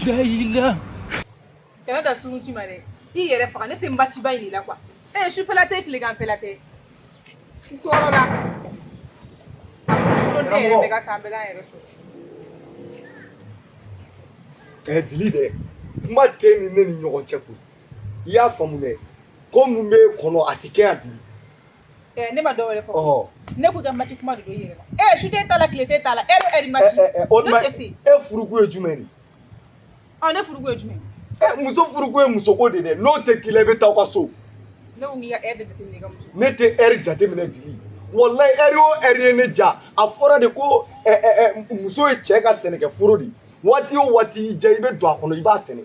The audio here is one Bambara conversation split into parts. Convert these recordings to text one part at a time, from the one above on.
Dili. Kana da sun ci ma dɛ. I yɛrɛ faga ne tɛ matiba in de la kuwa. Ee sufɛla tɛ tileganfɛla tɛ. N tɔɔrɔ la. Ko ne yɛrɛ bɛ ka san bɛɛ la yɛrɛ sɔrɔ. Ɛɛ dili dɛ. Kuma tɛ ni ne ni ɲɔgɔn cɛ koyi. I y'a faamu dɛ. Ko min b'i kɔnɔ a tɛ kɛ yan dili. Eh, ne ma dɔ wɛrɛ fɔ ne ko ka mati kuma de don yɛrɛ e su tɛ t'a la tile tɛ t'a la e bɛ ɛri mati o tuma e furukun ye jumɛn de ɔ ne furukun ye jumɛn ye muso furukun ye musoko de dɛ n'o tɛ k'i la i bɛ taa aw ka so ne ko k'i ka ɛri jateminɛ i ka muso ne tɛ ɛri jateminɛ dili walayi ɛri o ɛri ye ne diya a fɔra de ko muso ye cɛ ka sɛnɛkɛ foro de waati o waati y'i diya i bɛ don a kɔnɔ i b'a sɛnɛ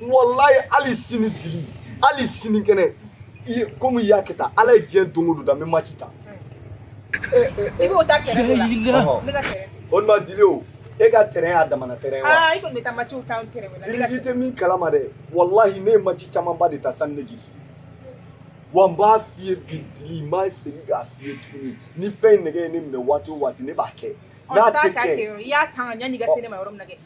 walayi hali sini dili hali sini kɛnɛ i ye komi i y'a kɛ tan ala ye diɲɛ don o don da n bɛ mati tan i b'o tan tɛrɛn de la Ɔhɔ. ne ka tɛrɛn o de ma dili o e ka tɛrɛn y'a damana tɛrɛn ye wa aa i kɔni bɛ taa matiw tan tɛrɛn la ne ka biriki tɛ min kalama dɛ walahi ne ye mati camanba de tan sani ne k'i furu wa n b'a f'i ye bi dili n b'a segin k'a f'i ye tuguni ni fɛn in nɛgɛ ye ne minɛ waati o waati ne b'a kɛ n'a taa tɛ k'a kɛ kɛ yɔrɔ i y'a tan yanni i ka se ne ma yɔrɔ min na kɛ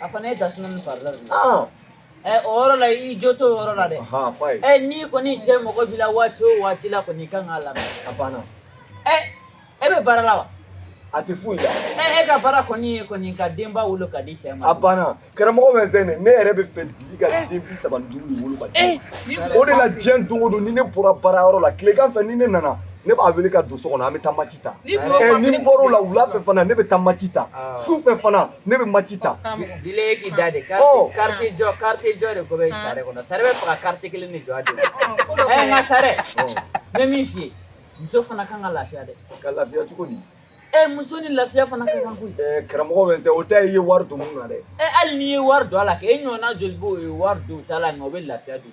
a fana ye da suna ni farila de ye ɛ o yɔrɔ la i jo t'o yɔrɔ la dɛ ɛ n'i kɔni cɛ mago b'i la waati o waati la kɔni i kan k'a lamɛn a banna ɛ e bɛ baara la wa a tɛ foyi la ɛ e ka baara kɔni ye kɔni ka denba wolo ka di cɛ ma a banna karamɔgɔ Vincent ne yɛrɛ b'a fɛ dili ka den bi saba ni duuru de wolo ka di o de la diɲɛ don o don ni ne bɔra baara yɔrɔ la tilegan fɛ ni ne nana ne b'a wele ka don so kɔnɔ an bɛ taa match ni n bɔr'o la wula fɛ fana ne bɛ taa maci tan su fɛ fana ne bɛ maci tan da de jɔ jɔ denko bɛ sari kɔnɔ sari b'a fɛ ka karitiye kelen de jɔ nka sari n bɛ min f'i ye muso fana kan ka lafiya dɛ ka lafiya cogo di ɛ muso ni lafiya fana ka kan koyi ɛ karamɔgɔ Vincent o tɛ i ye wari don min na dɛ ɛ hali n'i ye wari don a la kɛ e ɲɔgɔnna joli b'o ye wari don ta la nka o bɛ lafiya don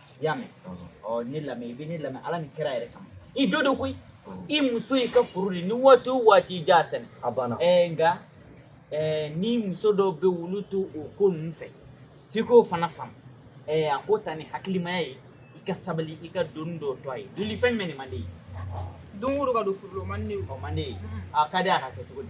y'a mɛn ɔ ne lamɛn i bɛ ne lamɛn ala ni kira yɛrɛ kama i jo don koyi i muso y'i ka foro de ni waati o waati i diya sɛnɛ a banna ɛɛ nka ɛɛ ni muso dɔw bɛ furu to o ko ninnu fɛ f'i k'o fana faamu ɛɛ a ko ta ni hakilimaya ye i ka sabali i ka don dɔw to a ye dili fɛn jumɛn de man d'i ye don o don ka don foro la o man di ne ye o man d'i ye a ka di a ka kɛ cogo di